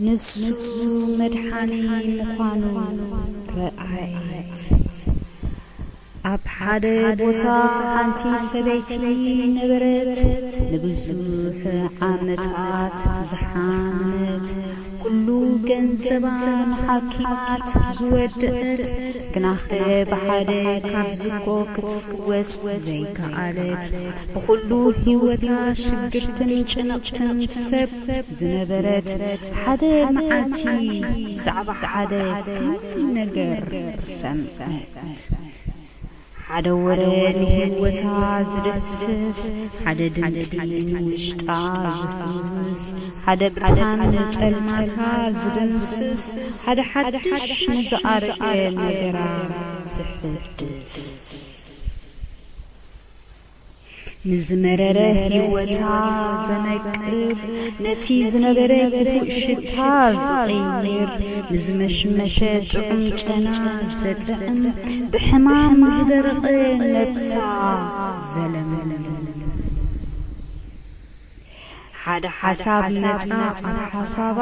ንሱ መድሓኒ ምዃኑ ረኣየት። ኣብ ሓደ ቦታ ሓንቲ ሰበይቲ ነበረት፣ ንብዙሕ ዓመታት ዝሓመመት፣ ኩሉ ገንዘባ ንሓኪማት ዝወደኣት፣ ግናኸ ብሓደ ካብ ዝብኮ ክትፍወስ ዘይከኣለት። ብኹሉ ህይወታ ሽግርትን ጭንቕትን ሰብ ዝነበረት፣ ሓደ መዓልቲ ብዛዕባ ሓደ ፍሉይ ነገር ሰምዐት። ሓደ ወረ ንህይወታ ዝድህስስ፣ ሓደ ድምጺ ንውሽጣ ዝፍውስ፣ ሓደ ብርሃን ንጸልማታ ዝድምስስ፣ ሓደ ሓድሽ ንዝኣረገ ነገራ ዘሕድስ። ንዝመረረ ህይወታ ዘነቅል፣ ነቲ ዝነበረ ክፉእ ሽታ ዝቕይር፣ ንዝመሽመሸ ጥዑም ጨና ዘጥዕም፣ ብሕማም ንዝደረቐ ነብሳ ዘለምልም። ሓደ ሓሳብ ነጻ ኣተሓሳባ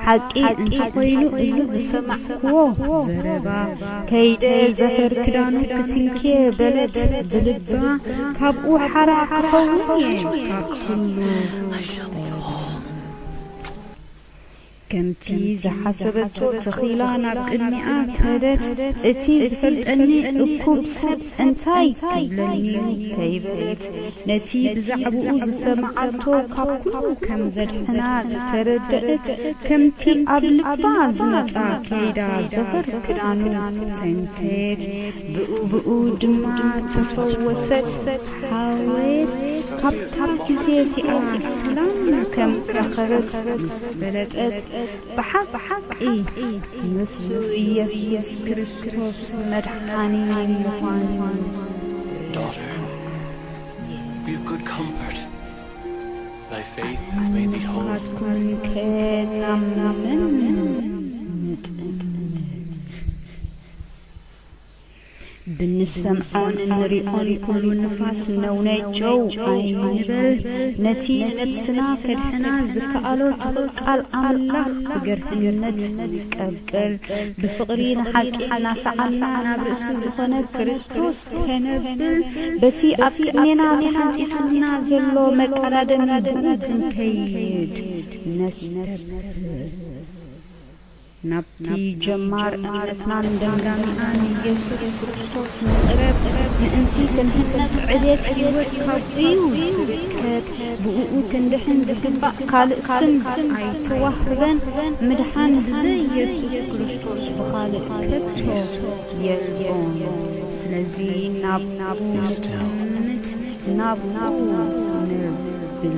ሓቂ እንተኾይኑ እዚ ዝሰማዕክዎ ዘረባ ከይደ ዘፈር ክዳኑ ክትንኪ በለት ብልባ ካብኡ ሓራ ክኸውን እየ ካብ ኩሉ ከምቲ ዝሓሰበቶ ተኺላ ናብ ቅድሚኣ ከደት፣ እቲ ዝፈልጠኒ እኩብ ሰብ እንታይ ክብለኒ'ዩ ከይበለት፣ ነቲ ብዛዕብኡ ዝሰምዓቶ ካብ ኩሉ ከም ዘድሕና ዝተረደእት፣ ከምቲ ኣብ ልባ ዝመጽኣ ከይዳ ዘፈር ክዳኑ ተንከየት። ብኡብኡ ድማ ተፈወሰት። ሃርዌት ካብታ ግዜ እቲኣ ሰላም ከም ዝረኸበት ምስ ፈለጠት፣ ብሓቂ ንሱ ኢየሱስ ክርስቶስ መድሓኒ ምዃኑ ንስኻትኩምከ ናብ መን ምጥምትምት? ብንሰምዖን እንሪኦን ኩሉ ንፋስ ነውነ ጨው ኣይንበል ነቲ ነብስና ከድሕና ዝከኣሎ ትኽል ቃል ኣምላኽ ብገርህነት ንቀበል ብፍቕሪ ንሓቂ እናሰዓብና ናብ ርእሲ ዝኾነ ክርስቶስ ከነብል በቲ ኣብ ቅድሜና ተሓንጺጹና ዘሎ መቀዳደሚ ብኡ ክንከይድ ነስተብህል ናብቲ ጀማር እምነትናን ደምዳሚኣን ኢየሱስ ክርስቶስ ንቕረብ፣ ምእንቲ ክንህነጽ ዕብየት ሕይወት ካብኡ'ዩ ዝርከብ፣ ብእኡ ክንድሕን ዝግባእ ካልእ ስም ኣይተዋህበን፣ ምድሓን ብዘይ ኢየሱስ ክርስቶስ ብኻልእ ከቶ የልቦን፣ ስለዚ ናብኡ ንጠምት፣ ናብኡ ንብል።